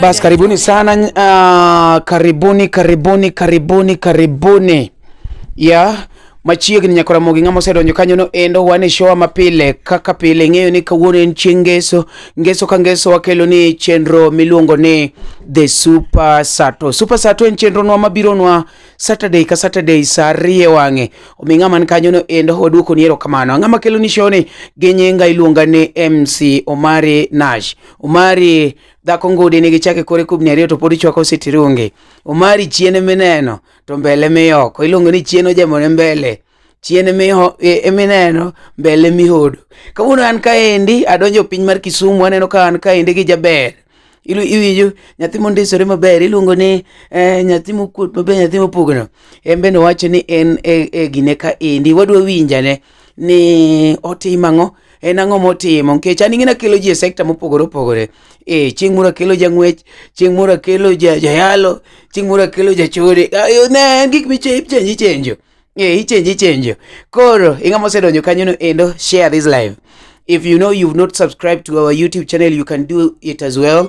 Basi karibuni sana uh, karibuni karibuni karibuni karibuni ya machiegni nyaka Ramogi ng'ama osedonjo kanyono endo wan e showa mapile kaka pile ing'eyo ni kawuono en chieng' ngeso ngeso ka ngeso wakelo ni chenro miluongo ni the super sato super sato en chenronwa mabironwa saturday ka saturday sa ariyo e wang'e omi ng'ama ni kanyono endo waduoko ni erokamano ng'ama kelo ni showni gi nyinga iluonga ni mc omari nash Omari dhako ngudi nigi chake kore kubni ariyo to pod ichwako sitirungi. Omari chien emineno to mbele miyoko. Iluongo ni chien ojamone mbele. Chien emiho- e- emineno mbele mihodo. Kawuono an kaendi adonjo e piny mar Kisumu aneno ka an kaendi gi jaber. Ilu- Iwinjo nyathi mondisore maber iluongo ni eh, nyathi mokuot maber nyathi mopugno. En bende owacho ni en e, e gine kaendi wadwa winjane. ni otim ang'o en ang'o motimo nikech an ing'ina kelo ji e sekta mopogore opogore e chieng' moro akelo jang'wech chieng' moro akelo ja- jayalo chieng' moro akelo jachode Ah, yo, ne en gik michenji chenjo e ichenji chenjo koro ing'ama osedonjo kanyono endo share this live if you know you've not subscribed to our youtube channel you can do it as well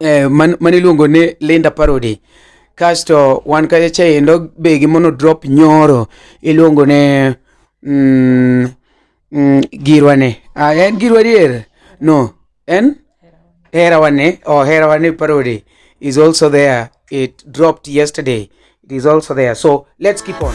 eh, man, man iluongo ni Linda Parody kasto wan kacha chaendo be gi mono drop nyoro iluongo ne mm, mm, girwa ne ah, en girwa dier no en herawa ne oh, herawa ne parody is also there it dropped yesterday it is also there so let's keep on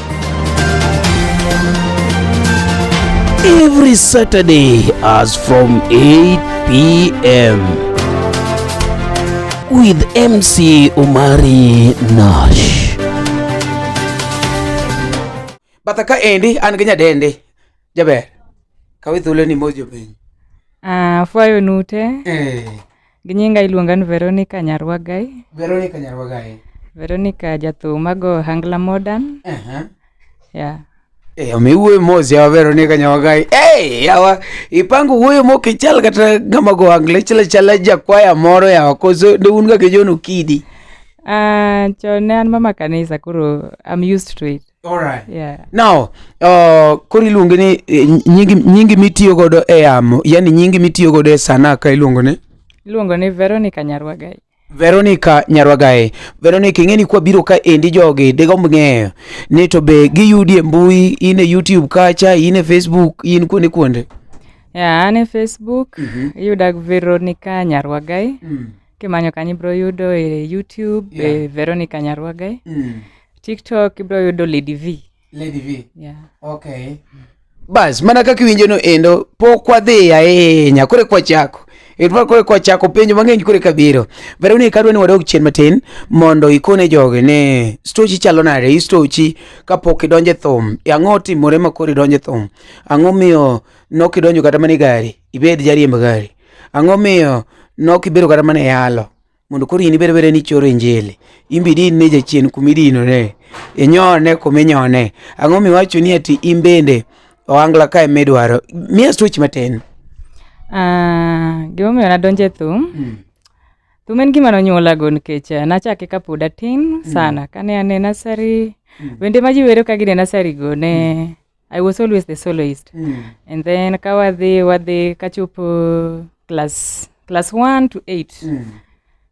Every Saturday as from 8 p.m. with MC Umari Nash. Batha ka endi an gi nyadende jaber kawe thuolo ni mos jopiny. Ah, fwayo nute. Eh. Gi nyinga iluonga ni Veronica Nyarwagai. Veronica Nyarwagai. Veronica jathum mago Hangla Modern. Uh -huh. Yeah. Hey, eh, omiwuoyo mos yawa Veronica Nyawagayi hey, eh, yawa ipango wuoyo mok ichal kata ng'ama go angle chala chala jakwaya moro yawa koso ne un ga ke jono kidi uh, ah, chon ne an mama kanisa koro I'm used to it Alright. Yeah. Now, uh, koro iluonge ni eh, nyingi, nyingi mitiyo godo e yamo, yani nyingi mitiyo godo e sanaa ka iluongo ni? Iluongo ni Veronica Nyarwagai. Veronica Nyarwagae. Veronica ing'e ni kwa biro ka endi jogi digomb ng'eyo ni to be giyudi e mbui in e YouTube kacha in e Facebook in kuonde kuonde. Yeah, an e Facebook mm -hmm. iyuda Veronica Nyarwagai mm. kimanyo kanyo ibiro yudo e youtube e Yeah. veronica nyarwagai Mm. tiktok ibiro yudo lady v Lady V. yeah. Okay. Bas, mana kaka iwinjo no endo, pok wadhi ahinya, kore kwachako. Edwar kore kwachako penjo mang'eny kore kabiro. Veronica adwa ni wadog chien matin mondo ikone jogi ni stochi chalo nade, hii stochi kapok idonje thum. E Ang'o otimore ma koro idonje thum? Ang'o miyo nok idonjo kata mana e gari, ibed jariemb gari? Ang'o miyo nok ibedo kata mana e yalo mondo koro in ibed abeda ni ichoro injili in be idin ne jachien kuma idinone inyone kuma inyone ang'o miwacho ni ati in bende ohangla ka ema idwaro miya stoch matin ah, gimomiyo nadonjo e thum mm. thum en gima nonyuolago nikech eh, nachake kapod atin mm. sana kane ane nasari mm. wende ma ji wero ka gine nasari go ne mm. I was always the soloist. Mm. And then kawadhi wadhi kachopo class class 1 to 8. Mm.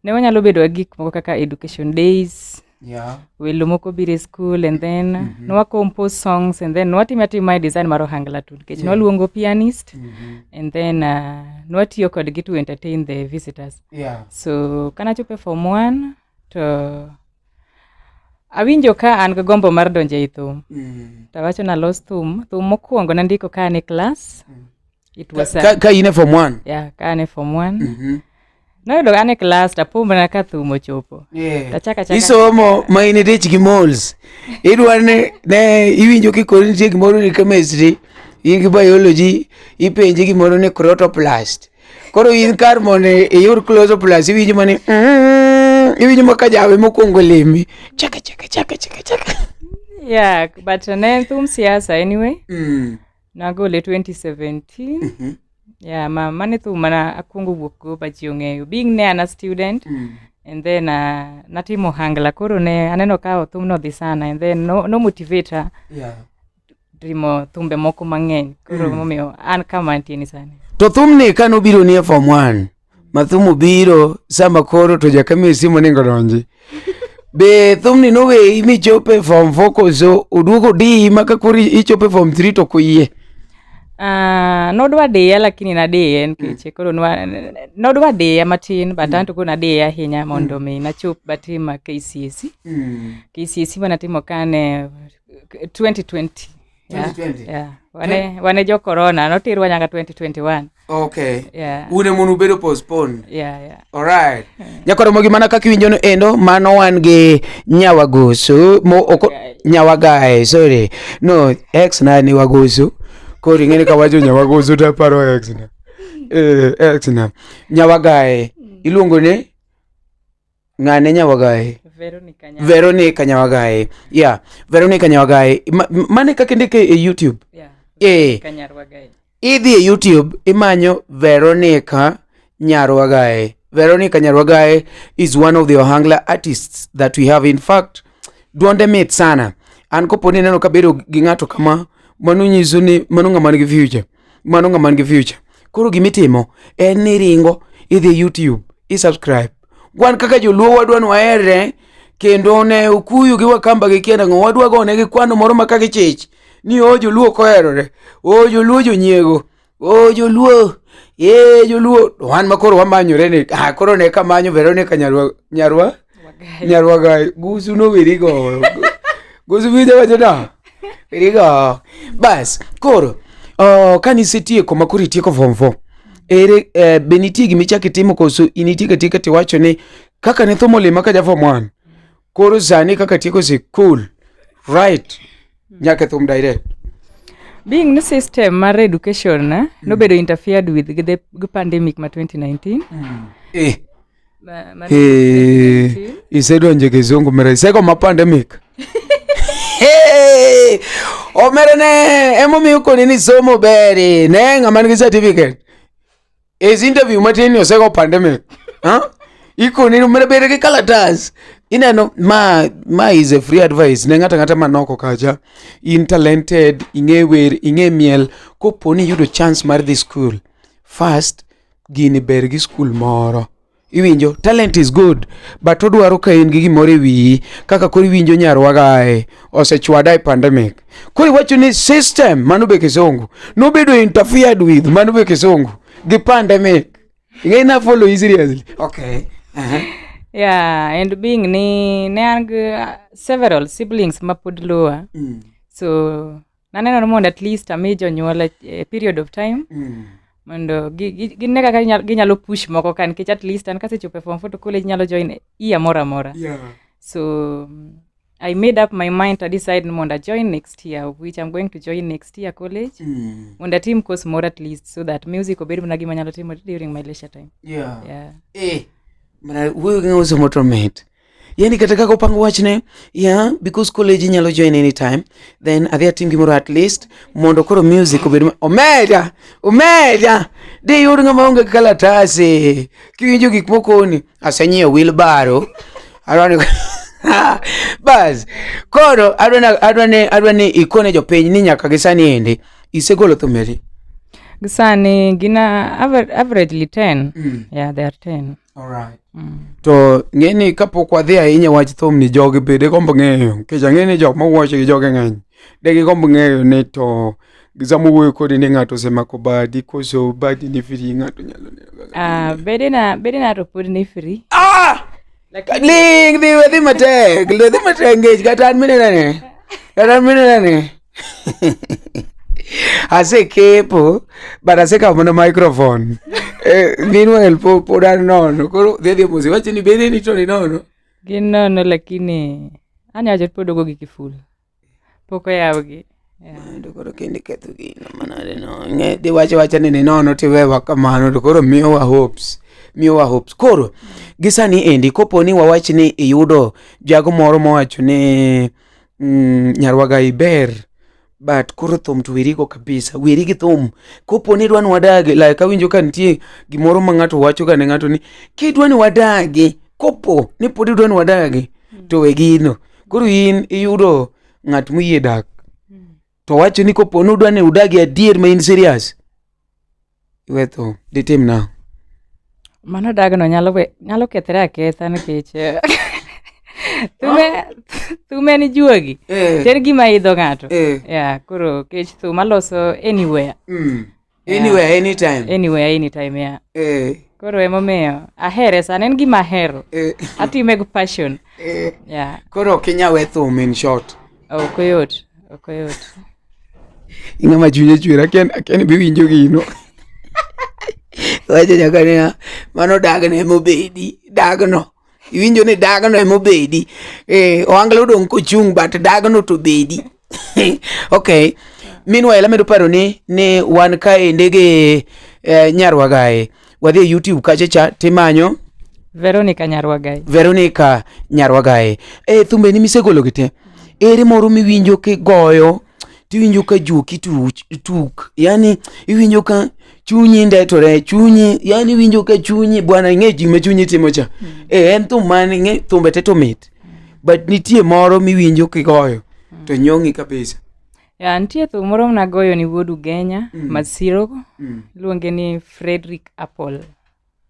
Ne wanyalo bedo gi gik moko kaka education days. Yeah. Welo moko biro e school and then mm -hmm. nwa compose songs and then nwatimo atima e design mar ohangla tu nikech yeah. nwaluongo pianist mm -hmm. and then uh, nwatiyo kodgi to entertain the visitors. Yeah. So kanachopo e form 1 to Awinjo ka an gi gombo mar donjo ei thum. Mm. To awacho nalos thum, thum mokwongo nandiko ka an e klas. Mm. It was ka, ka, ka in e form 1. Yeah, ka an e form 1. Mm -hmm. Noyudo an e klas tapumbana ka thum ochopo. Yeah. Tachaka chaka. Isomo ma in itich gi moles. Idwa ne ne iwinjo kikori nitie gimoro ni chemistry, in gi biology, ipenje gimoro ni crotoplast. koro in kar mondo iyud close up plus iwinjo mani mm, iwinjo ma ka jawe mokwongo lemi chaka chaka chaka chaka chaka yeah but ne en thum siasa anyway Mm, nagole 2017 mhm, yeah ma mane thum mana akwongo wuok go ba ji ong'eyo being ne an a student mm, and then uh, natimo hangla koro ne aneno ka thumno dhi sana and then no, no motivate her yeah. timo thumbe moko mang'eny koro hmm. momiyo an kama antie ni sani to thumni ka nobiro ni e form one ma thum obiro sama koro to jakamie simu ningo donji be thumni noweyi michopo e form four koso oduogo diyi ma ka koro ichopo e form three to koyie Uh, ah, nodwa diya lakini nadiye nikech mm. koro nodwa diya matin but mm. anto koro nadiye ahinya mondo mm. mi nachop batima KCSE mm. KCSE manatimo kane 2020 Yeah, yeah. Wane, wane jo corona notirwa nyaka 2021 okay yeah. une mono ubedo postpone yeah, yeah. alright yeah. nyakoro mogi mana kaka iwinjono endo mano wan gi nyawagoso mo oko okay. nyawagae sorry no ex na ni wagoso koro ing'eni ka wacho nyawagoso to aparo ex na eh, ex na nyawagae mm. iluongo ni ng'ane nyawagaye Veronica Nyako. veronica nyawagaye yeah veronica nyawagaye Ma- m- mane kaka indike e youtube Yeah. eh Kanyarwagae. idhi e youtube imanyo veronica nyarwagae veronica nyarwagae is one of the ohangla artists that we have in fact duonde mit sana an koponi neno kabedo gi ng'ato kama mano nyiso ni mano ng'ama nigi future mano ng'ama nigi future koro gima itimo en ni iringo idhi youtube isubscribe wan kaka joluo wadwa ni waherre kendo ne okuyu gi wakamba gi kienda ng'o wadwa gone gi kwano moro ma ka gichich ni o joluo ok oherore o joluo jonyiego o joluo e joluo to wan ma koro wamanyore ni ah, koro ne kamanyo veronica nyarwa nyarwa nyarwaga gusu no wirigo gusu winjo wacho no wirigo bas koro uh, ka nisetieko ma koro itieko form four ere eh, be nitie gima ichako itimo koso in itieko atieka tiwacho ni kaka ne thum olima ka ja form one koro sani kaka atieko sikul right nyaka e thum direct being ni system mar education eh, nobedo interfered with gi the gi pandemic ma 2019 eh isedonje kizungu mera iseko ma pandemic omera ne emomiyo koni ni somo beri ne ng'ama nigi certificate is interview matin ni oseko pandemic ikoni ni omera beri gi kalatas ineno ma ma is a free advice ne ng'ata ng'ata manoko kacha in talented ing'e wer ing'e miel koponi yudo chance mar dhi school first gini ber gi skul moro iwinjo talent is good but odwaro ka in gi gimoro e wiyi kaka koro iwinjo nyarwa gae osechwada e pandemic koro iwacho ni system mano be kisungu nobedo interfered with mano be kisungu gi pandemic ing'e na follow you seriously okay uh-huh. yeah and being ni ne an gi uh, several siblings ma pod luwa mm. so naneno ni mondo at least ami jonyuol a a period of time Mm. mondo gi- gi- gine kaka ginyal- ginyalo push moko ka nikech at least an kasechopo e form four to college nyalo join year moro amora Yeah. so mm, i made up my mind to decide ni mondo ajoin next year of which i'm going to join next year college Mm. mondo atim course moro at least so that music obed mana gima nyalo timo during my leisure time Yeah. yeah. Eh, mana wuoyo gi ng'ama osomo to mit yani kata kaka opang wachne yeah, because college inyalo join anytime then adhi atim gimoro at least mondo koro music obed omeda omeda de yud ng'ama onge kalatase kiwinjo gik mokoni asenyiewo wilbaro arwani bas koro adwa ni ikone jopiny ni nyaka gisani endi isegolo thumeri gisani gina averagely 10 mm. yeah, they are 10 Alright. Mm. To ng'e ni kapok wadhi ahinya wach thum ni jogi be digombo ng'eyo nikech ang'e ni jok mawuoche gi jogi ng'eny de gigombo ng'eyo ni to sama wuoyo kodi ni ng'ato osemako badi koso badi ni free ng'ato nyalo neno kaka Ah, ging'eyo. bedena bedena to pod ni free Ah! Ling dhi wedhi matek, dhi matek ngech kata an minenane. Kata an minenane. Ase kepo, but ase kamo na microphone. Eh, meanwhile po po dar nono. Koro dhedhi mose wacho ni bede ni to ni nono. Gin nono lakini anya wacho pod ogo gi kiful. Pok oyawgi. Yeah. To koro kende ketho gino manade no. Ng'e de wacho wacha ni ni nono tiwewa kamano to koro miyowa hopes. Miyowa hopes. Koro gisani endi koponi wawach ni iyudo jago moro mowacho ni Mm, nyarwaga iber but koro thum to werigo kabisa weri gi thum kopo ni idwa ni wadagi like awinjo ka nitie gimoro ma ng'ato wacho ga ne ng'ato ni kidwa ni wadagi kopo ni pod idwa ni wadagi to we gino koro in iyudo ng'at moyie dak to wacho ni kopo ni udwa ni udagi adier ma in serious iwe tho ditim nang'o mano dagno nyalo we- nyalo kethre aketha nikech eh, thume thum en juogi to en gima idho ng'ato Eh. ya koro kech thum aloso anywhere Mm. Yeah. Anywhere, anytime. Anywhere, anytime, yeah. Eh. Koro emomiyo ahere sana en gima ahero. Eh. Atime gi passion. Eh. Yeah. Koro ok inyal we thum in short. Ok oyot, ok oyot. Ing'ama chunye chwera ken ken bi winjo gino. Wacha nyaka ne mano dagne mobedi dagno. iwinjo ni dagno ema obedi eh, ohangla odong' kochung' but dagno to bedi okay meanwhile amedo paro ni ni wan kaende gi eh, nyarwagae wadhi e youtube kacha cha timanyo veronica nyarwagae veronica nyarwagae e thumbeni misegologi te ere moro miwinjo kigoyo tiwinjo ka juoki tuk yani iwinjo ka chunyi ndetore chunyi yani iwinjo ka chunyi bwana ing'e gima chunyi timo cha mm. e en thum mane ing'e thumbe te to mit but nitie moro miwinjo kigoyo mm. to nyong'i kabisa ya nitie thum moro mnagoyo ni wuod ugenya mm. masiro mm. iluonge ni frederick apple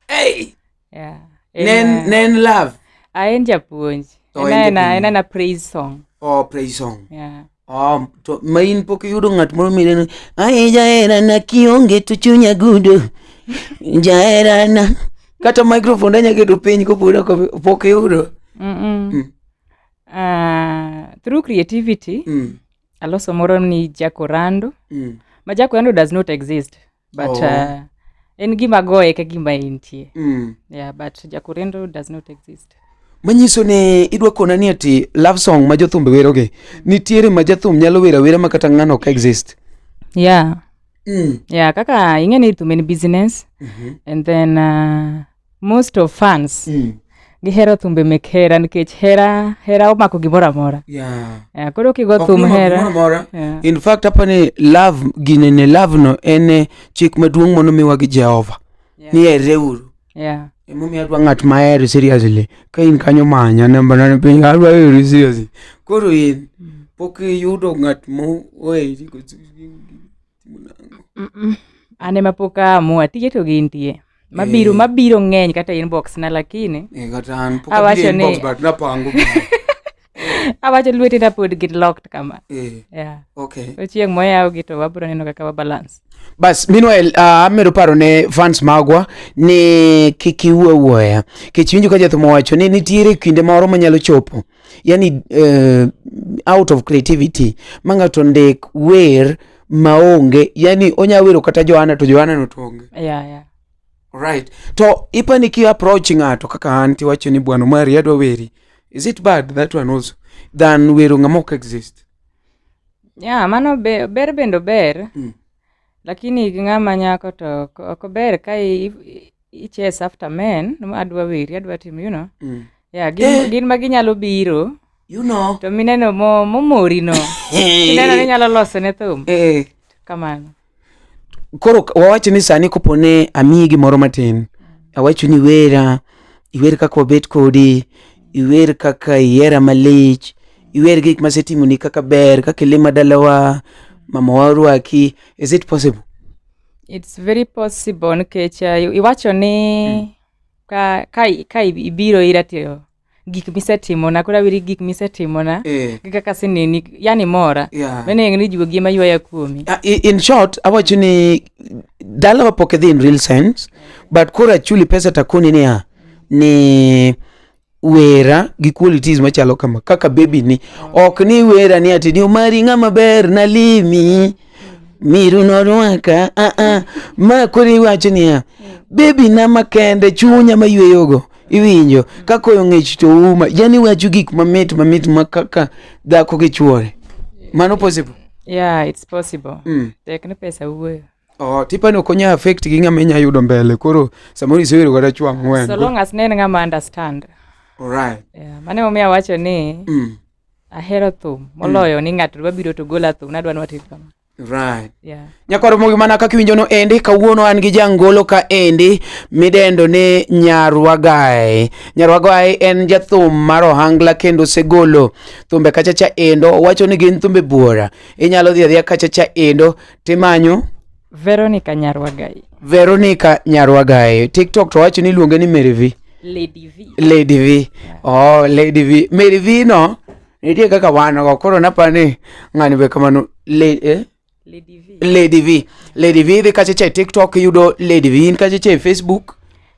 hey! yeah. en, ne en- ne en love ah, en japuonj To en en en, japuonj. en, en a praise song oh praise song yeah. Oh, to ma in pok iyudo ng'at moro mineno ae jaherana kionge to chunya gudo jaherana kata microphone anya keto piny kopod ok- pok iyudo mm -mm. Mm. Ah, through creativity mm, aloso moro ni jakorando mm, ma jakorando does not exist but oh. uh, en gima goye ka gima entie mm. yeah, but jakorendo does not exist manyiso ni idwa kona ni ati love song ma jothumbe werogi nitiere ma jathum nyalo wera wera ma kata ng'ano ok exist yeah mm. yeah kaka ing'e ni thum en business mm -hmm. and then uh, most of fans mm. gihero thumbe mek hera nikech hera hera omako gimoro amora yeah. yeah, koro kigo thum hera yeah. in fact hapa ni love ginene love no en eh, chik maduong' mono miwa gi jehova yeah. ni ereuru yeah. emomiyo adwa ng'at mahero seriously ka in kanyo manya nambanane piny adwa hero seriously koro in mm. pok iyudo ng'at moeri An ema pok aamua, tije to gintie. Mabiro Eh. mabiro ng'eny kata inbox na lakini Eh, kata an pok Awacho abiro inbox ni- but napango gigi. awacho lwetena pod gin locked kama. Eh, Yeah. okay. To chieng' moyawgi to wabiro neno kaka wa balance. bas meanwhile uh, amedo paro ne fans magwa ni kik iwuo awuoya kech winjo ka jathum owacho ni nitiere kinde moro manyalo chopo yani uh, out of creativity ma ng'ato ndik wer maonge yani onya wero kata johana to johana no to onge yeah, yeah. right to ipani ki approach ng'ato kaka an tiwacho ni bwana mari adwa weri is it bad that one also than wero ng'ama ok exist yeah mano be, ber bendo ber mm. Lakini gi ng'ama nyako to ok ok ber ka i- i- ichase after men ma adwa weri adwa timo you know Mm. yeah, gin, Eh. gin ma ginyalo biro You know. to mineno mo- momori no ineno ni nyalo loso ne thum Eh. kamano koro k- wawach ni sani kopo ne amiyi gimoro matin awacho ni wera iwer kaka wabet kodi iwer kaka ihera malich iwer gik masetimoni kaka ber kaka ilima dalawa mamawa orwaki is it possible it's very possible nikech uh, iwacho ni mm. ka, ka, ka ibiro ira to gik misetimona koro aweri gik misetimona eh. gi kaka sineni yani mora yeah. menengo ni jiwo gima ywaya kuomi uh, in short awacho ni dalawa pok idhi in real sense but koro achuli pesa takoni niya ni wera gi qualities machalo kama kaka baby ni ok ni wera ni ati ni omari ng'ama ber nalimi miru norwaka ah, ah. ma koro iwacho niya baby na makende chunya mayweyogo iwinjo ka koyo ng'ich to uma yani wacho gik mamit mamit ma kaka dhako gi chuore mano possible yeah it's possible mm. tek ni pesa wuoyo Oh, tipani ok onya affect gi ng'ama inya yudo mbele koro samoro isebedo kata chwa ang'wen so long as ne en ng'ama understand alright yeah, mane omiyo awacho ni mm. ahero thum moloyo mm. ni ng'ato dwa biro to gola thum nadwa ni watim kama right yeah. nyakoro mogi mana kaka iwinjo no endi kawuono an gi jangolo ka endi midendo ni nyarwagae nyarwagae en jathum mar ohangla kendo osegolo thumbe kachacha endo owacho ni gin thumbe buora inyalo dhi adhiya kachacha endo timanyo Veronica Nyarwagai. Veronica Nyarwagai. TikTok to wacho ni iluonge ni Mary V. Lady V. Lady V. Oh, Lady V. Mary V no nitie kaka wan go koro naparo ni ng'ani be kamano Le- eh? Lady V. Lady V. Lady V dhi kacha cha e TikTok yudo Lady V in kacha cha e Facebook.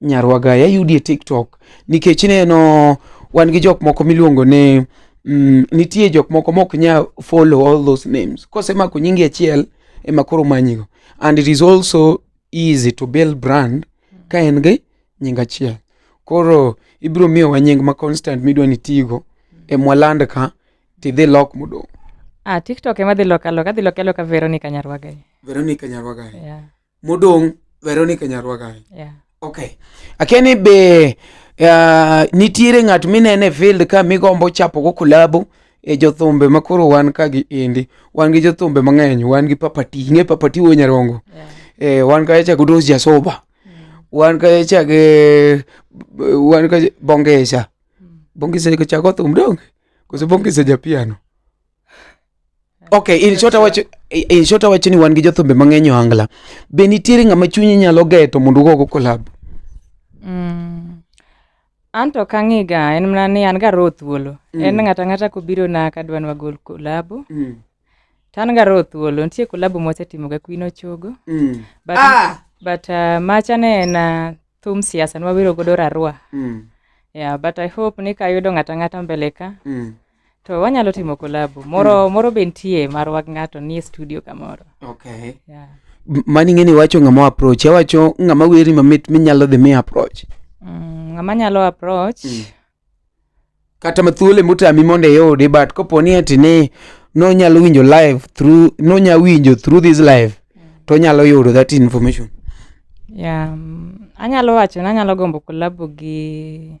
Nyarwa Gaya yudi e TikTok nikech ineno wan gi jok moko miluongo ni mm, nitie jok moko mok nya follow all those names kosemako nyingi achiel ema koro manyigo and it is also easy to build brand ka en gi nying achiel koro ibiro miyowa nying ma constant midwa ni tigo e mwaland ka tidhi lok modong Ah, TikTok ema dhi loka loka, adhi loka loka Veronica Nyarwaga. Veronica Nyarwaga yeah. modong' Veronica Nyarwagai. Yeah. Okay. Akia ni be uh, nitiere ng'at minene e field ka migombo chapo go kulabu e jothumbe ma koro wan ka gi indi. Wan gi jothumbe mang'eny, wan gi Papati, ing'e Papati wuo Nyarongo. Yeah. Eh, wan ka cha Gudos Jasoba. Mm. Wan ka cha ge wan ka Bongesa. Mm. Bongesa ka cha go thum dong. Koso Bongesa japiano. ok in short awacho in short awacho ni wan gi jothumbe mang'eny ohangla be nitiere ng'ama chunyi nyalo geto mondo ugogo kolab mm. an to kang'iga en mana ni an ga roho thuolo mm. en ng'ata ng'ata kobiro na kadwa ni wagol kolabo mm. to an ga roho thuolo nitie kolabo mwasetimo ga kwino chogo mm. but, ah! but uh, macha ne en uh, thum siasa nwawero godo rarua mm. yeah, but i hope ni kayudo ng'ata ng'ata mbele ka mm. to wanyalo timo kolabo moro hmm. moro be nitie marwa gi ng'ato nie studio kamoro okay. yeah. mani ng'eni wacho ng'ama approach awacho ng'ama weri mamit minyalo dhi mi approach mm, ng'ama nyalo approach mm. kata mathuole motami mondo iyudi but kopo ni ati ni nonyalo winjo live through nonya winjo through this live mm. to nyalo yudo that information yeah, um, anyalo wacho ni anyalo gombo kolabo gi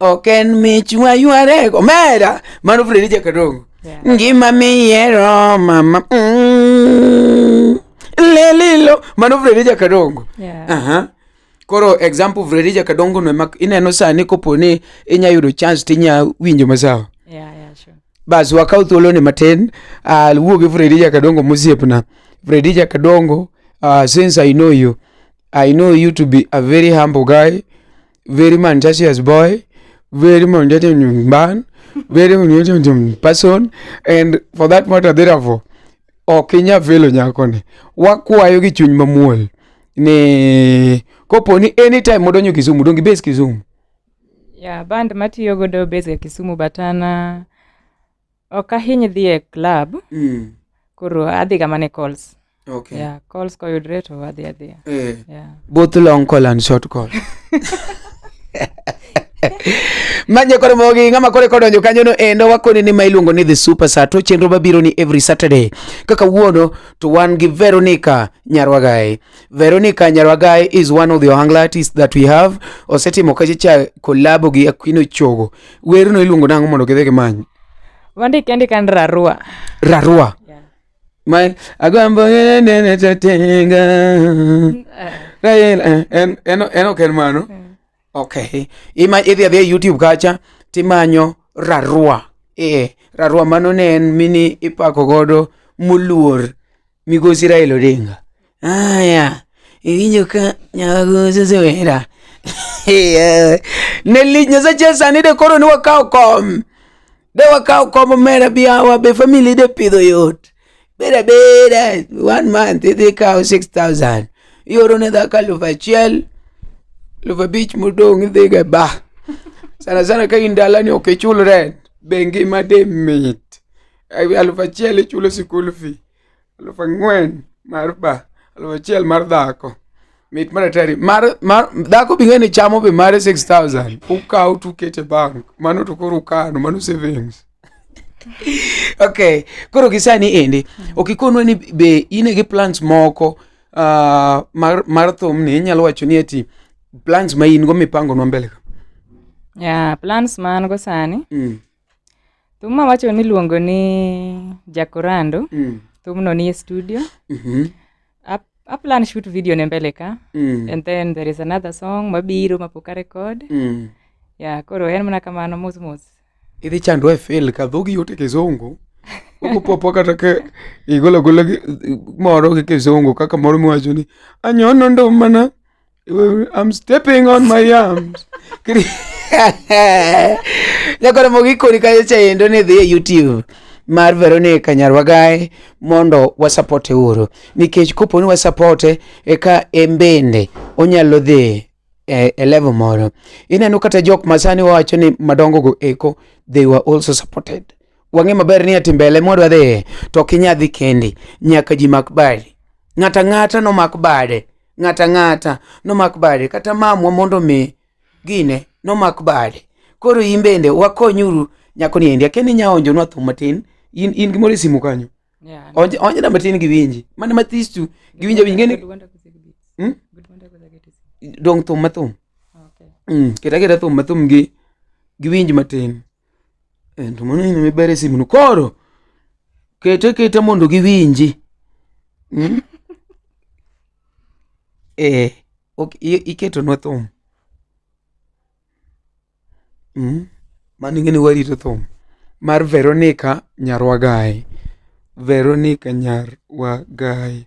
ok en mich waywarego omera mano fredija kadongo Yeah. ngima miyiero mama mm, lelilo mano fredija kadongo Yeah. Aha. koro example fredija kadongo no ema ineno sani kopo ni inya yudo chance tinya winjo masawa Yeah, yeah, sure. bas wakaw thuoloni matin uh, wuo gi fredija kadongo mosiepna fredija kadongo uh, since i know you i know you to be a very humble guy very manchasious boy very manchasious man very manchasious person and for that matter therefore ok inya felo nyakoni wakwayo gi chuny mamuol ni kopo ni anytime modonjo kisumu dongi base kisumu yeah, band matiyo godo base ya kisumu but an uh, Ok ahiny dhi e club. Mm. Koro adhi ga mana e calls. Okay. Yeah, calls koyudre to adhi adhiya. Eh. Yeah. Both long call and short call. manye koro mogi ng'ama kore kodonjo kanyono endo wakoni ni ma iluongo ni the super star to chenro mabiro ni every saturday kaka wuono to wan gi veronica nyarwagae Veronica Nyarwagai is one of the Ohangla artists that we have. Osetimo kache cha collabo gi Aquino Chogo. Werno iluongo nango mondo gidhi gimany. Wandike ndika ni Rarua. Rarua. Yeah. My agombo nene tatenga. Rael eh, en en en ok en mano. Mm. Okay. Ima idhi adhi e YouTube kacha timanyo Rarua. Eh, Rarua mano ne en mini ipako godo muluor Migosi Raila Odinga. Aya, iwinjo ka nyago osesewera. Eh, Ne lich Nyasache sani de koro ni wakawo kom. De wakawo kom omera bi awa be family de pidho yot. Beda beda one month idhi kawo 6000. Ioro ne dhako alufu achiel. Alufu abich modong' idhi ga ba. Sana sana ka in dalani ok ichul rent. Be ngima de mit. ewi aluf achiel ichulo sikul fi aluf ang'wen mar ba aluf achiel mar dhako mit mar atari mar, mar dhako bi ng'eni chamo be mare 6000 ukaw tukete bank mano to koro ukano mano savings okay koro gisani endi okikonwa ni be in gi plans moko uh, mar, mar thum ni inyalo wacho ni ati plans ma in go mipangonwa mbele ka yeah, plans ma an go sani mm. Thum ma wacho ni iluongo ni Jakorando. Mm. Thumno nie studio. Mm -hmm. Ap aplan shoot video ne mbele ka. Mm. And then there is another song mabiro mapok a record. Mm. Yeah, koro en mana kamano mos mos. Idhi chandwa e fail ka dhogi yote kizungu. Ukupopo kata ke igolo golo moro gi kizungu kaka moro miwacho ni anyono ndo mana I'm stepping on my arms. Nyakoro mo gikoni kanyo cha endo ni dhi e YouTube mar Veronica Nyarwagae mondo wasapote uru nikech koponi wasapote eka embende onyalo dhi e, e level moro ineno kata jok masani wawacho ni madongo go eko they were also supported wang'e maber ni ati mbele mwadwa dhiye to ok inyadhi kendi nyaka ji mak badi ng'ata ng'ata nomak bade ng'ato ang'ata nomak bade kata mamwa mondo omi gine nomak bade koro in bende wakonyuru nyako niendi akia ni inya onjonwa thum matin in, in gimoro e simu kanyo Yeah. Onj- onjna matin giwinji mana mathis tu giwinji awinji ngeni Good wonder was a good bit. Hmm? Good wonder was a good bit. dong thum mathum Okay. mm, keta keta thum mathum gi giwinji matin to mano ineno miber e simuno koro kete kete mondo giwinji Mm? eh, ok, i- iketonwa thum Mm? mano ing'eni warito thum mar veronica nyarwagae veronica nyarwagae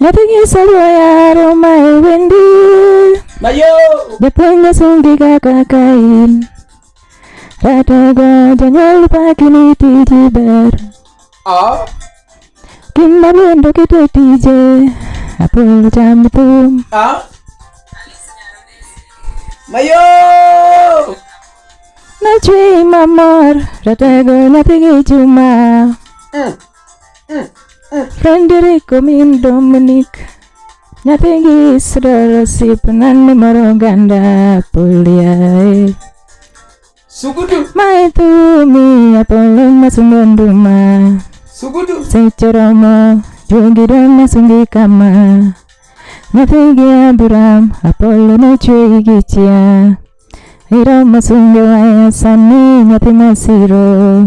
Nyathi nyiso yaro ma e wendi Japuonj sungi kaka kain Ratogo jonyuol paki ni tiji ber Kinda bendo kite tije Apol cham thum Mayo Nachwi mamor Ratego nyathi gi chuma mm. Frederico min Dominic nyathigi Israel osip nani moro oganda poliae Sugudu. Mae thumi apolo masungo nduma Sugudu. Seche romo juogi dong masungi kama Nyathigi Abraham apolo nochweyi gi chia Iromo sunge waya sani nyathi masiro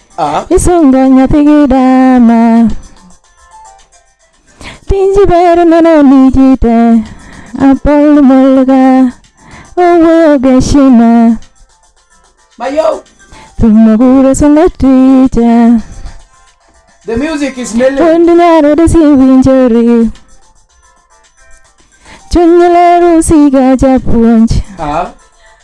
Ah. Isungo nyathi gi dama. Tinji ber nono ni ji te. Apol molga. Owuoyo gi heshima. Mayo. Thumo gure sungo ticha. The music is mellow. Wuond nyaro desi winjori. Chuny lero siga japuonj. Ah.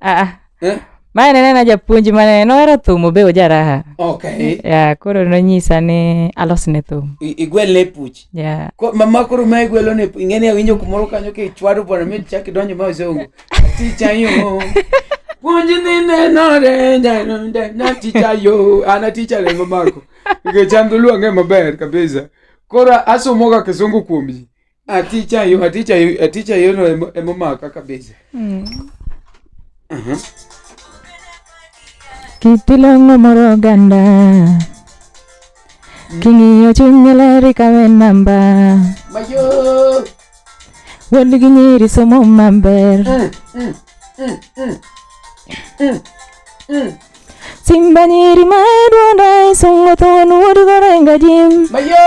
Ah, ah. Eh? mae ne nena japuonj mane nohero thum obe ojaraha okay. yeah, koro nonyisa ni alosne thum igwelne puch yeah. Ko, mama koro ma igwelone ing'eni awinjo kumoro kanyo kichwado bwana mi chak idonjo ma oseongo ticha yo puonj ni nenore na ticha yo an aticha rengo mako nikech an dholuo ang'e maber kabisa koro asomoga kisungu kuom ji Aticha yo, aticha yo, aticha yo no emo- emomaka kabisa. Aha. Kitilongo moro oganda King'iyo chunye leri kawe namba Mayo. Wuod gi nyiri somo maber Simba nyiri ma edwonda isungo thon wuod gorenga jim Mayo.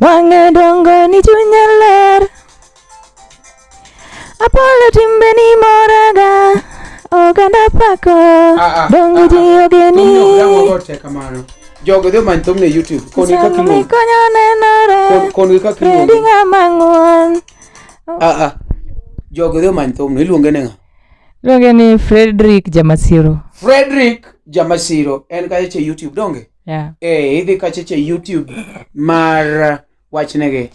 Wang'e dongo ni chunya ler Apolo timbe ni moraga Oganda pako ah, ah, ah, Dongo ji ogeni Jogo dhi omany thumni e YouTube Koni kaka iluongo Konyo nenore Koni kaka iluongo Fredi ng'ama ng'uon Jogo dhi omany thumni iluonge ne ng'a Iluonge ni Frederick Jamasiro Frederick Jamasiro en kaeche YouTube donge yeah. eh, idhi kacheche youtube mar uh, wachnegi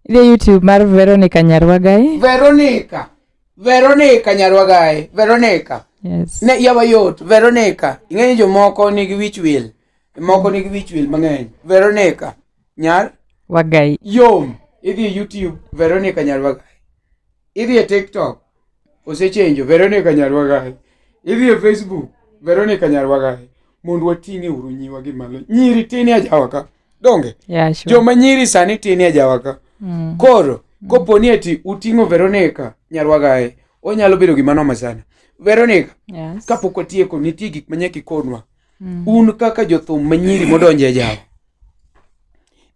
idhi e youtube mar veronica nyarwagai veronica veronica nyarwagai veronica yes. ne yawa yot veronica ing'e ni jomoko nigi wich wil moko nigi wich wil mang'eny veronica nyar wagai yom idhi e youtube veronica nyarwagai idhi e tiktok osechenjo Veronica Nyarwagahe idhi e Facebook Veronica Nyarwagahe mondo wating'e uru nyiwa gi malo nyiri tin e ajawa ka donge yeah, sure. joma nyiri sani tin e ajawa ka mm. koro mm. kopo ni ati uting'o Veronica Nyarwagahe onyalo bedo gima noma sana Veronica yes. kapok watieko nitie gik manyaka ikonwa Mm. Un kaka jothum manyiri modonjo e jawo.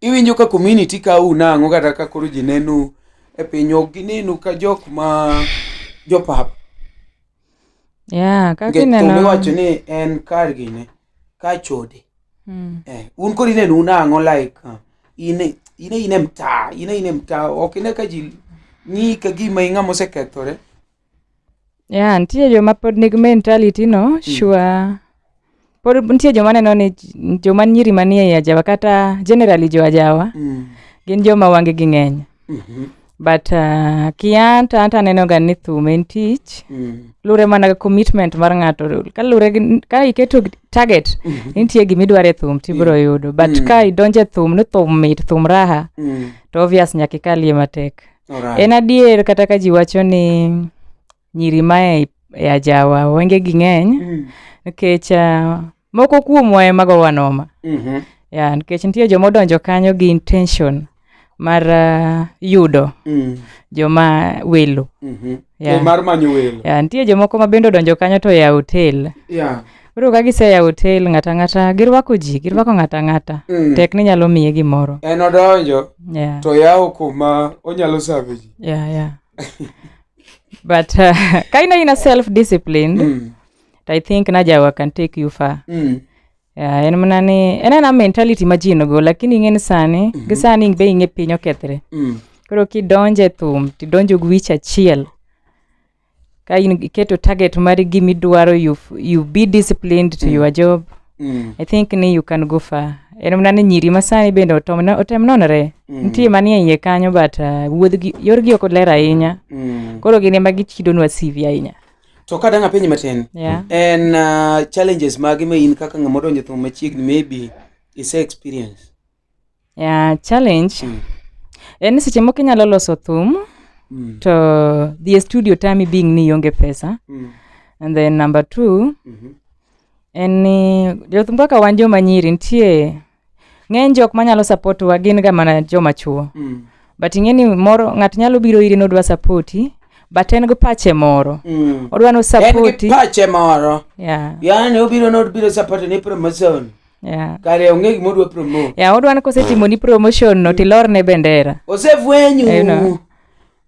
Iwinjo ka community ka u nang'o kata ka koro ji nenu e piny ok ginenu ka jok ma jopap. Yeah, kaka ineno. Ng'eto miwacho ni en kar gine ka chode. Mm. Eh, un koro ineno unang'o like uh, ine ine ine mtaa ine ine mtaa ok ine ka ji ng'i ka gima ing'ama osekethore. Yeah, nitie joma pod nigi mentality no, mm. sure. Pod nitie joma neno ni joma nyiri manie ajawa kata generally jo ajawa mm. gin joma wange gi ng'eny. Mm -hmm. But uh, kian to anta neno ga ni thum en tich. Mm. Lure mana ga commitment mar ng'ato. Ka lure ka iketo target mm -hmm. nitie gima idware thum tibro mm. yudo. But mm. ka idonje thum ni thum mit thum raha mm. to obvious nyaka ikalie matek. En adier kata ka ji wacho ni nyiri ma e, e ajawa wenge gi ng'eny mm. nikech uh, moko kuomwa ema gowa noma mm -hmm. ya nikech nitie joma odonjo kanyo gi intention mar uh, yudo mm. joma welo mm -hmm. yeah. mar manyo welo yeah, nitie jomoko ma bende odonjo kanyo to ya hotel yeah. Koro ka giseya hotel ng'ata ng'ata girwako ji, girwako ng'ata ng'ata. Mm. Tek ni nyalo miye gimoro. En odonjo Yeah. to yawo kuma onyalo save ji. Yeah, yeah. But uh, ka in aina self disciplined, Mm. I think najawa can take you far. Mm. Yeah, en mana ni en ana mentality ma ji nogo lakini ing'e ni sani gi sani be ing'e piny okethre Mm. koro kidonjo e thum tidonjo gi wich achiel ka in iketo target mar gima idwaro you, you be disciplined to mm. your job mm. i think ni you can go far en mana ni nyiri masani bende otem nonore mm. nitie manie iye kanyo but uh, wuodhgi yorgi ok ler ahinya mm. koro gin ema gichidonwa cv ahinya to ka dang' apenji matin yeah. en uh, challenges mage ma in kaka ng'ama odonjo thum machiegni maybe ise experience Yeah, challenge mm. en seche moko inyalo loso thum mm. to dhie studio tami being ni ionge pesa mm. and then number two mm -hmm. en ni jothum kaka wan joma nyiri nitie ng'eny jok manyalo support wa gin ga mana joma chuo mm. but ing'e ni moro ng'ato nyalo biro iri ni odwa sapoti but en gi pache moro mm. odwa ni osapoti pache moro yeah. yani obiro ni obiro sapoti ni promotion Yeah. Kare onge gima odwa promote. Yeah, odwa ni kosetimo ni promotion no tilor ne bendera. Osefwenyu. You know.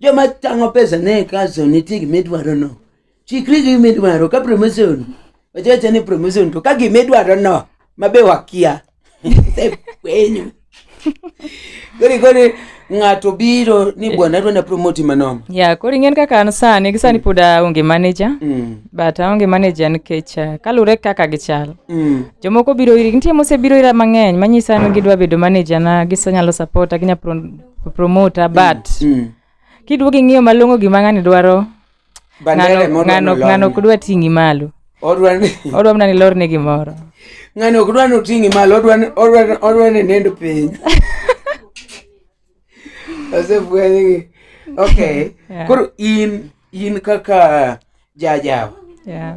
Joma tango pesa ne kaso nitie gima idwaro no. Chikri gi gima idwaro ka promotion. Wachacha ni promotion to ka gima idwaro no mabe wakia. Osefwenyu. kori kori ng'ato biro ni eh. bwana adwa na promote manono ya kori ng'en kaka an sani gi sani mm. pod aonge manager mm. but aonge manager nikech eh, kalure kaka gichal mm. jomoko biro iri nitie mosebiro ira mang'eny manyisa ni gidwa bedo manager na gisanyalo support ginya pro, promota but mm. mm. kiduogo ing'iyo malong'o gima ng'ani dwaro bandere mondo ng'ano nolong'. ng'ano ok dwa ting'i malo Odwa ni odwa mana ni lorne gimoro ng'ani ok dwa ni oting'i malo odwa ni- odwa ni- odwa ni nind piny osefwenygi okay Yeah. koro in in kaka jajawa yeah.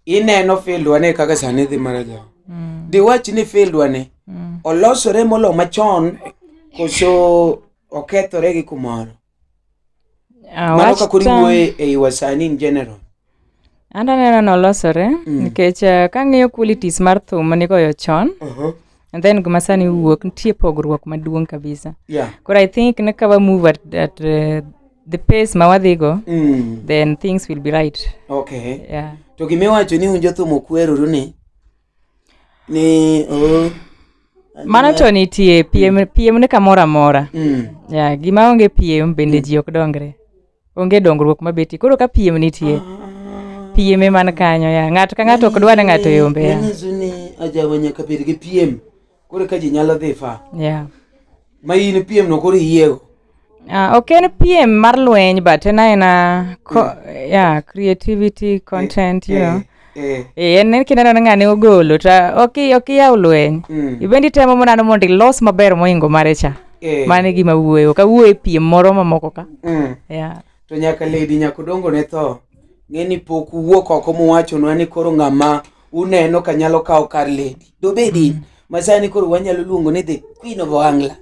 ineno fieldwa ni kaka sani dhi mar ajawa mm. diwach ni fieldwa ni Mm. olosore molo machon koso okethore gi kumoro Ah, mano kaka oriwoe ei wasani in general an aneno nolosore mm. nikech eh, kang'iyo qualities mar thum manigoyo chon uh -huh. and then gima sani wuok nitie pogruok maduong' kabisa yeah. koro i think ne ka wamove at, at uh, the pace ma wadhigo mm. then things will be right okay. yeah. to gimiwacho ni unjo thum okweruru ni ni oh, Mano to nitie piem, piem ni kamoro amora. mm, Ya, gima onge piem bende ji ok dongre. Onge dongruok mabetie. Koro ka piem nitie, piem ema ni kanyo ya. Ng'ato ka ng'ato ok dwa ni ng'ato yombe ya. Manyiso ni ajawa nyaka bed gi piem koro ka ji nyalo dhi fa yeah. ma in piem no koro iyiego Uh, ok en piem mar lweny but en aena yeah. Mm. yeah, creativity eh, content yeah, you eh, know yeah. Eh. en kineno ni ng'ani ogolo to ok ok iyaw lweny mm. ibendi temo monano mondo ilos maber moingo mare cha yeah. mane gima wuoyo ka wuoyo e piem moro mamoko ka mm. yeah. to nyaka lady nyako dongo ne tho ng'eni pok wuok oko muwachonwa ni koro ng'ama uneno ka nyalo kawo kar lady dobedi mm. masani koro wanyalo luongo ni the queen of ohangla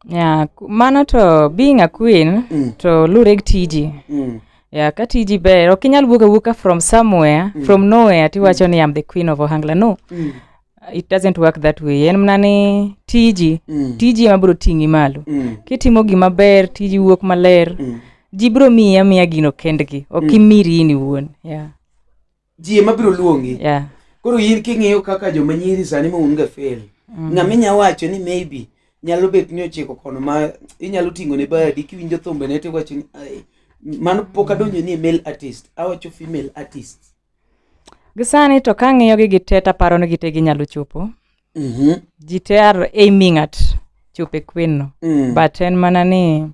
yeah, mano to being a queen mm. to lure gi tiji mm. yeah, ka tiji ber ok inyal wuok awuoka from somewhere mm. from nowhere tiwacho mm. ni am the queen of ohangla no mm. it doesn't work that way en mana ni tiji mm. tiji ema biro ting'i malo mm. kitimo gima ber tiji wuok maler mm. ji biro miyi amiya gino kendgi ok mm. imiri in iwuon yeah. ji ema biro luongi yeah. koro in king'iyo kaka joma nyiri sani ma un ga fail mm. ng'ama inya wacho ni maybe nyalo bet ni ochiko kono ma inyalo ting'o ne bayadi kiwinjo thumbe ne to iwacho ni mano pok adonjo ni e male artist awacho female artist gisani to ka ng'iyo gi gite to aparo ni gite ginyalo chopo mm -hmm. ji te are aiming at chope queen no mm. but en mana ni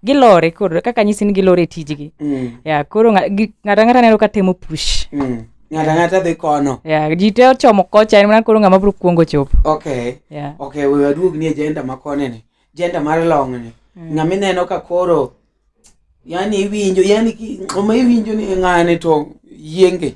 gilore koro kaka nyisi ni gilore tijgi mm. ya koro ng'ata ng'ata neno ka temo push mm. ng'ata ng'ata dhi kono ya ji te ochomo kocha en mana koro ng'ama biro kuongo chopo okay yeah. okay we waduog ni agenda ma kone ni agenda mar long ni mm. ng'ama ineno ka koro yani iwinjo yani oma iwinjo ni ng'ane to yienge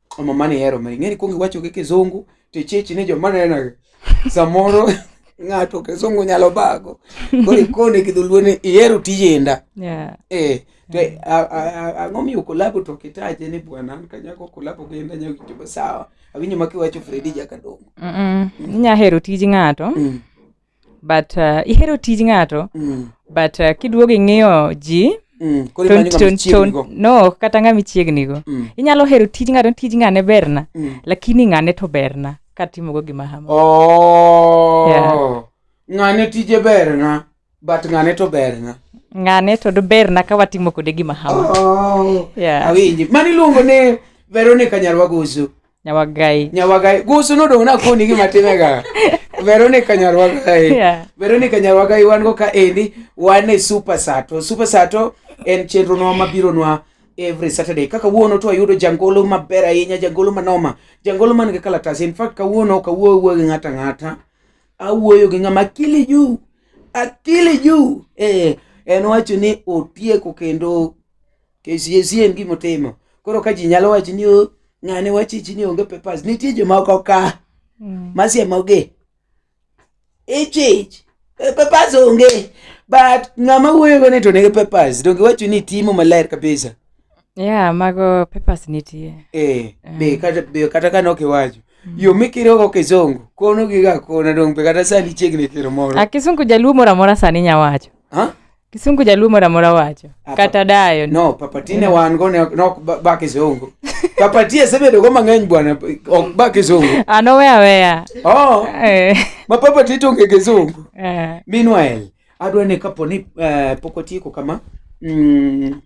Mama mani hero mari. Ng'eni kuongi wacho gi kizungu to ichichi ni joma neno. Samoro ng'ato kizungu nyalo bago. Koro ikone gi dholuo ni ihero tijenda. Yeah. Eh, to eh, a- a- a- ang'o miyo kolabo to kitaje ni bwana an kanyako kolabo gi enda nyalo winjo sawa. Awinjo ma kiwacho Fredi Jakadongo. Mm-mm. Inya hero tij ng'ato Mm. but uh, ihero tij ng'ato mm. but uh, kiduogo ing'iyo ji mm. no kata ng'ama ichiegnigo mm. inyalo hero tij ng'ato tij ng'ane berna mm. lakini ng'ane to berna katimogo gima hamo oh. yeah. ng'ane tije berna but ng'ane to berna ng'ane to doberna ka watimo kode gima hamo oh. yeah. awinji mani iluongo ni veronica nyarwagoso Nyawagai. Nyawagai. Gusu no dong' nakoni gima time ga. Veronica Nyarwagai. Yeah. Veronica Nyarwagai wan go ka endi wan e Super Sato. Super Sato en chenro nwa mabiro nwa every Saturday. Kaka wuono to ayudo jangolo maber ahinya, jangolo manoma, jangolo man gi kalatas. In fact kawuono ok awuoyo wuoyo gi ng'ata ng'ata. Awuoyo gi ng'ama akili juu. Akili juu. Eh, en wacho ni otieko kendo KCSE en gima otimo. Koro ka ji nyalo wacho ni "Oh, ng'ane wachichi ni onge papers, nitie jomoko ka Mm. masiemogi. Ichich, eh, papers onge. But ng'ama wuoyogo ni to nigi papers, donge wacho ni timo maler kabisa. Yeah, mago papers nitie. Eh, be kata be kata kane ok iwacho. Yo mikirogo kizungu, kono giga kona donge be kata sani chiegni kiro moro. A kisungu jaluo moro amora sani nya wacho. Huh? Kisungu jaluo mora mora wacho. Ah, Kata dayo. No, papatine wan go ne ok ba kisungu. Papatie sebedo go mang'eny bwana ok ba kisungu. Ano ah, we aweya. Oh. Eh. Ma papatie to nge kisungu. Eh. Meanwhile, adwa ne kapo ni eh, pok otieko kama. Mm.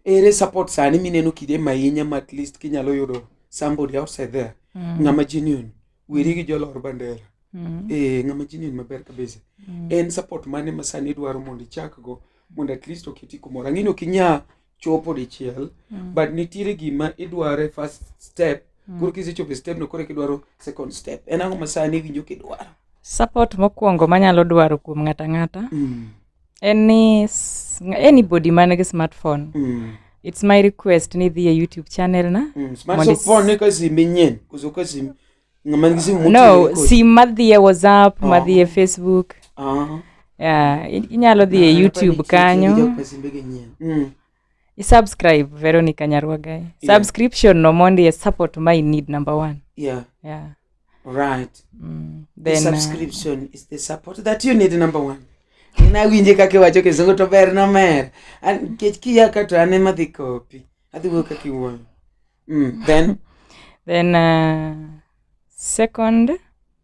Ere support sani mineno kide mahinya ma at least kinyalo yudo somebody outside there. Mm. Ng'ama genuine. weri gi jolor bandera mm. eh, ng'ama jinin maber kabisa mm. en support mane ma sani idwaro mondo ichakgo mondo at least oketi kumoro ang'eni ok inya chopo dichiel mm. but nitiere gima idware first step mm. koro kisechopo e step no koro kidwaro second step en ang'o ma sani iwinjo kidwaro support mokwongo manyalo dwaro kuom ng'ata ng'ata mm. any anybody man nigi smartphone mm. it's my request ni dhi e youtube channel na mm. smartphone ni ka sim nyen kuzo ka sim ngama ngi sim no sim madhi e whatsapp oh. madhi e facebook ah uh -huh. yeah inyalo dhi e youtube kanyo mm. isubscribe veronica nyarwaga yeah. subscription no mondi e support my need number one yeah yeah right mm. then the uh, subscription uh, is the support that you need number one nawinje kaka iwacho kisungu to ber nomer nikech kiya ka to an ema dhi kopi adhi wuoyo kaka iwuoyo mm. then then uh, second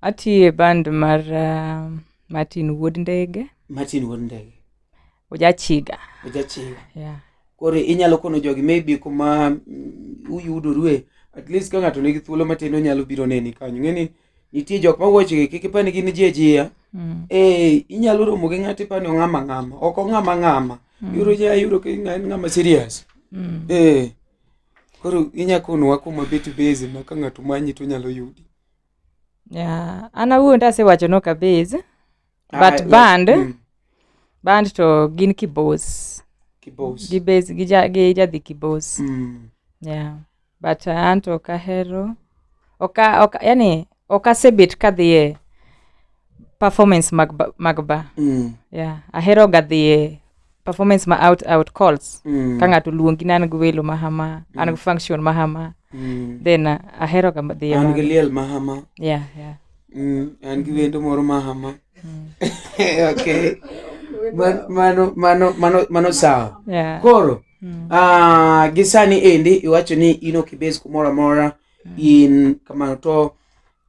Atiye band mar uh, Martin Wuod Ndege. Martin Wuod Ndege. Ojachiga. Ojachiga. Yeah. Koro inyalo kono jogi maybe kuma mm, uyudorue at least ka ng'ato nigi thuolo matin onyalo biro neni kanyo ng'eni nitie jok ma wuochgi kik ipani gin ji ajiya mm. ee inyalo romo gi ng'ato ipani ong'ama ng'ama ok ong'ama ng'ama mm. yudo ja yudo ka en ng'ama serious mm. ee koro inya konowa kuma bet base ma ka ng'ato manyi to nyalo yudi yeah. an awuon tasewacho nok abase ah, but ah, band yeah. mm. band to gin kibos kibos gi base gi ja gi jadhi kibos mm. yeah but uh, anto kahero oka oka yani ok asebet kadhiye performance mag ba- mag ba Mm. yeah. ahero ga dhiye performance ma out out calls Mm. ka ng'ato luongi ni an gi welo mahama an gi function mahama Mm. then uh, ahero ga dhiye an ma- gi liel mahama yeah, yeah. Mm, an gi wendo moro mahama okay Man- mano mano mano mano sawa Yeah. koro Mm. ah, gi sani endi iwacho ni in ok ibes kumoro amora mm. in kamano to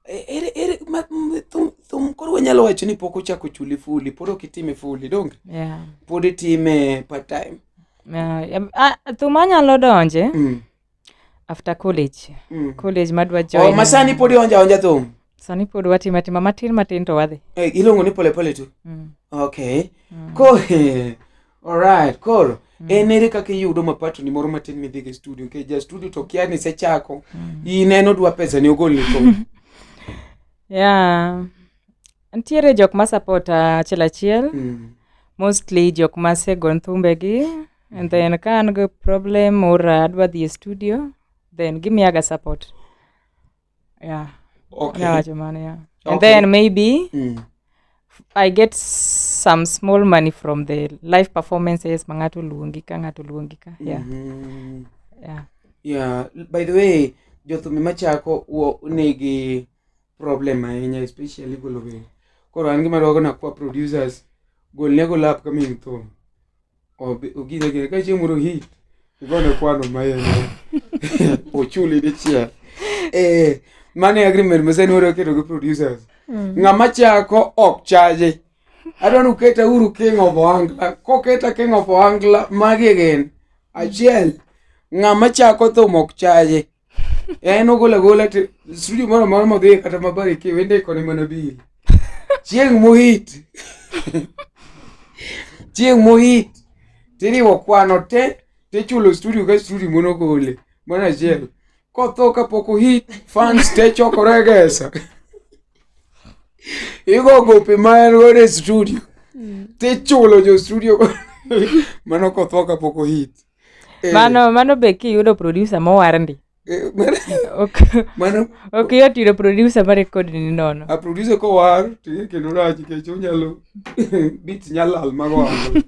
e, ere ere ma, thum, thum koro wanyalo wacho ni pok ochako chuli fuli pod ok itime fuli donge yeah. pod itime part time yeah. uh, thum anyalo donje mm. after college mm. college madwa oh, join oh, masani pod ionja onja thum sani pod watimo atima matin matin to wadhi eh, iluongo ni polepole tu mm. okay mm. ko Alright, koro mm. en ere kaka iyudo mapatoni moro matin midhi gi studio nikech ja studio to kia ni sechako mm. ineno dwa pesa ni ogol ni kom yeah. ntiere jok ma support achiel achiel mm. mostly jok ma sego nthumbegi and then ka an gi problem or adwa dhi e studio then gimiyaga support yeah okay. yawacho mano yeah. okay. and then maybe mm. i get some small money from the live performances ma ng'ato luongi ka ng'ato luongi ka yeah. Mm -hmm. yeah. yeah. by the way jothumi machako nigi problem ahinya especially golo be koro an gima dwago na kwa producers golne golap ka min thum Ogine gine ka chieng' moro hit igone kwano ma en ochuli dichiel eh mane agreement mose nwere oketo gi producers mm. ng'ama chako ok chaje adwa ni uketa uru king of ohangla koketa king of ohangla magi gin achiel ng'ama chako thum ok chaje Eh, en ogol agola to studio moro amora modhiye kata mabari ki wende kone mana bil chieng' mohit chieng' mohit tiriwo kwano te tichulo studio ka studio monogole mana achiel kotho kapok ohit fans te chokore gesa igo gope ma en godo e studio tichulo jo studio mano kotho kapok ohit Eh. Mano mano be kiyudo producer mowar ndi. Eh, mano ok yot yudo producer ma record ni nono. A producer ko war ti kendo rach kech onyalo beat nyalal mago ango.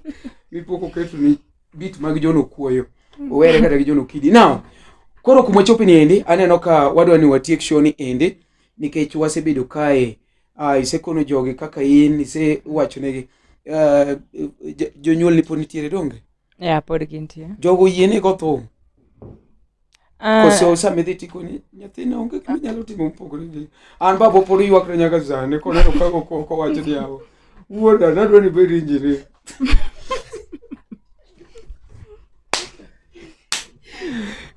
Mipoko ketu ni beat mag jono kuoyo. Owere kata gi jono kidi. Now koro kuma chopi ni endi aneno ka wadwa ni watiek show ni endi nikech wasebedo kae uh, isekono jogi kaka in isewachonegi uh, eh, jonyuol ni pod nitiere donge ya pod gintie jogo yie ni gothum Ah, kose osamedhi tikoni nyathina onge gima nyalo timo mopogore gi an babo pod ywakre nyaka sani koneno ka oko- kowacho ni yawo wuoda nadwa ni bed injinia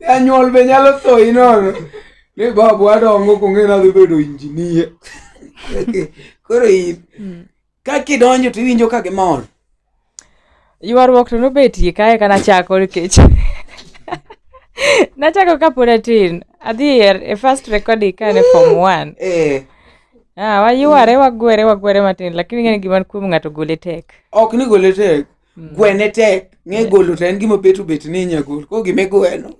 anyuol be nyalo tho inono ni babu adongo kong'e nadhi bedo injinia koro in ka kidonjo to iwinjo ka gimor ywaruok to nobetie kae ka nachako nikech nachako kapod atin adhi e first recording ka en e form one eh. ah, wayware wagwere wagwere matin lakini ng'eni gima kuom ng'ato gole tek ok ni gole tek Mm. gwene tek ng'e golo to en gima bet obet ni inya gol ko gima igweno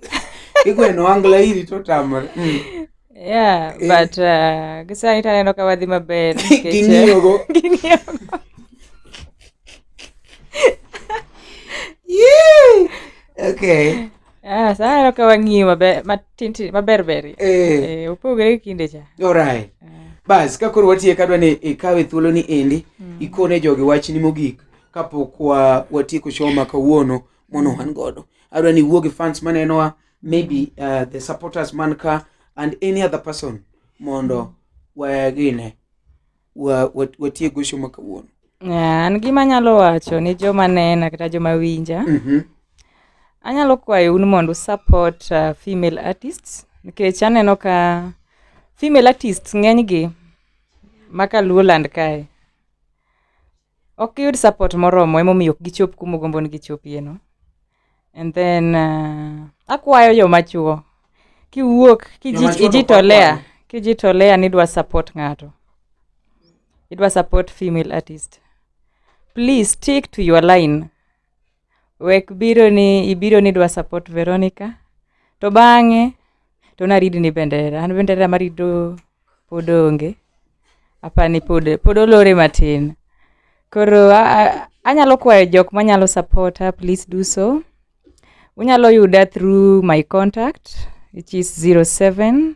igweno angla iri to tamore mm. yeah eh. but uh, gisani to aneno ka wadhi maber ging'iyogo uh, ging'iyogo okay Ah, sa aneno ka wang'iyo maber matintin maber ber eh. eh, opogore gi kinde cha alright ah. bas ka koro watiye kadwa ni ikawe thuolo ni endi mm. ikone jogi wachni mogik kapok wa watieko show ma kawuono mono wan godo adwa ni iwuo gi fans manenowa maybe uh, the supporters man ka and any other person mondo wagine wa- wa- watiek go show ma kawuono Yeah, an gima anyalo wacho ni joma nena kata joma winja Mhm. anyalo kwayo un mondo support uh, female artists nikech aneno ka female artists ng'enygi maka luoland kae ok giyud support moromo emomiyo ok gichop kuma ogombo ni gichopieno and then uh, akwayo joma chuo kiwuok kijitolea kijitolea ni idwa support ng'ato idwa support female artist please stick to your line wek biro ni ibiro ni dwa support Veronica to bang'e to naridi ni bendera an bendera marido pod onge apani pod pod olore matin koro anyalo kwayo jok manyalo supporta please do so unyalo yuda through my contact which is 07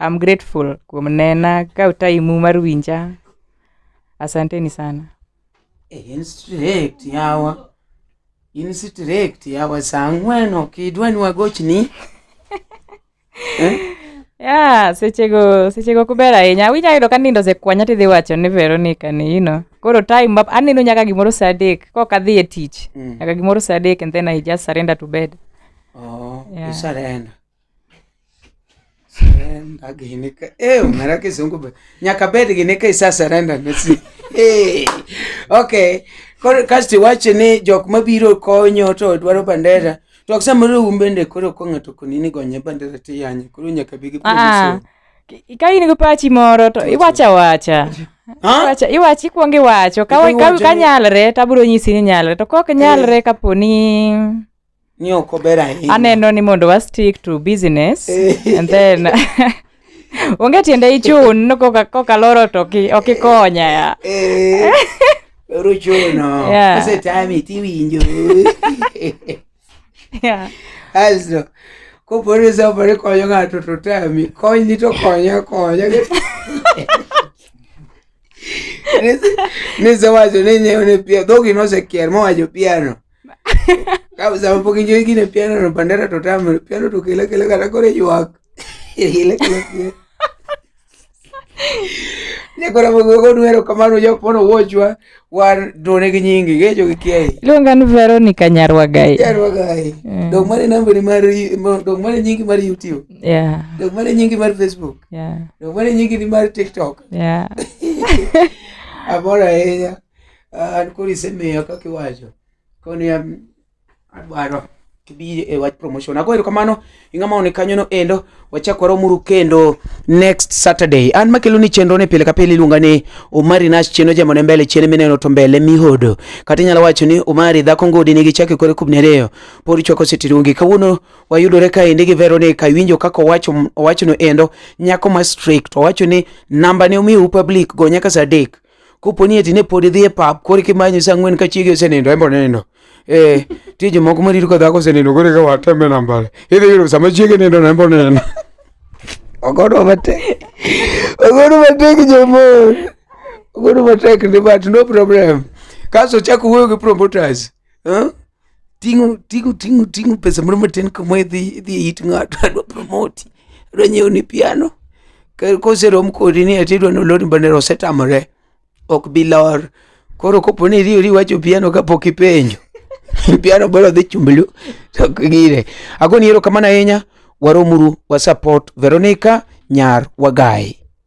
I'm grateful kuom nena ka utaimu mar winja. Asanteni sana. Eh, in strict yawa in strict yawa saa ang'wen ok idwa ni wagochni eh? yeah, sechego sechego kuber ahinya awinya yudo ka nindo osekwanya tidhi wacho ni veronica ni you know koro time up aneno nyaka gimoro saa adek kok adhi e tich mm. nyaka gimoro saa adek and then i just surrender to bed oh, yeah. you surrender Surrender gini ka. Eh, umera kisungu be. Nyaka bed gini ka isa surrender ne si. Eh. Okay. Koro kasti wache ni jok mabiro konyo to dwaro bandera. To aksa moro umbende koro ko ng'ato konini gonye bandera ti yanye. Koro nyaka bigi Ah, ah. polisi. Ki- ka in gi pachi moro to iwacha wacha Ha? Iwacha- iwachi ikwongo iwacho ka, Ikwongo ka, iwacho ka ni- nyalre to abiro nyisi ni nyalre to kok nyalre kapo ni ni ok ober ahinya. Aneno ni mondo wa stick to business eh. and then onge tiende ichun koka loro to ok ikonya ya. Eh. Loro chuno. Kose tami tiwinjo. Yeah. Aso kopo ni sopo ni konyo ng'ato to tami kony ni to konya konya. Nisewacho ni nyewo ne pia dhogi nosekier mowacho piano. Kabisa mpo kijo ikine piano no pandera to tamo piano to kile kile kata kore yuak. Kile kile. Ne kora mgo go nuero kamano jo pono wochwa wan done gi nyingi ge jo kiai. Luonga ni Veronica Nyarwa Gai. Nyarwa Gai. Mm. Dog mane number mar dog mane nyingi mar YouTube. Yeah. Dog mane nyingi mar Facebook. Yeah. Dog mane nyingi mar TikTok. Yeah. Amor ahinya. Ah, koro isemiyo kaka iwacho koni em, adwaro kibi e wach promotion ago erokamano ing'ama one kanyono endo wachak waromuru kendo next saturday an makelo ni chenro ni pile ka pile iluonga ni omari nash cheno jamone mbele chene mineno to mbele mihodo kata inyalo wacho ni omari dhako ngodi nigi chake kore kubni ariyo pod ichwako sitirungi kawuono wayudore kaendi gi veronica iwinjo kaka owacho owachono endo nyako ma strict owacho ni namba ne omiu public go nyaka saa adek Kopo ni eti ne pod idhi e pap, koro eka imanyo saa ang'wen ka chiegi osenindo, en be onindo. Eh, nitie jomoko ma rito ka dhako osenindo koro eka wateme nambare. Idhi yudo sama chiegi nindo no en be onindo. Ogodo matek. Ogodo matek jomon. Ogodo matek ni but no problem. Kaso chako wuoyo gi promoters. Huh? ting'o ting'o ting'o ting'o pesa moro matin kama idhi idhi e it ng'ato adwa promoti adwa nyiewo ni piano Ka- koserom kodi ni ati idwa nolor mbane osetamore ok bi lor koro kopo ni iriwori iwacho piano kapok ipenjo piano bora dhi chumblu to ok gire agoni erokamano ahinya waromuru wasupport veronica nyar wagayi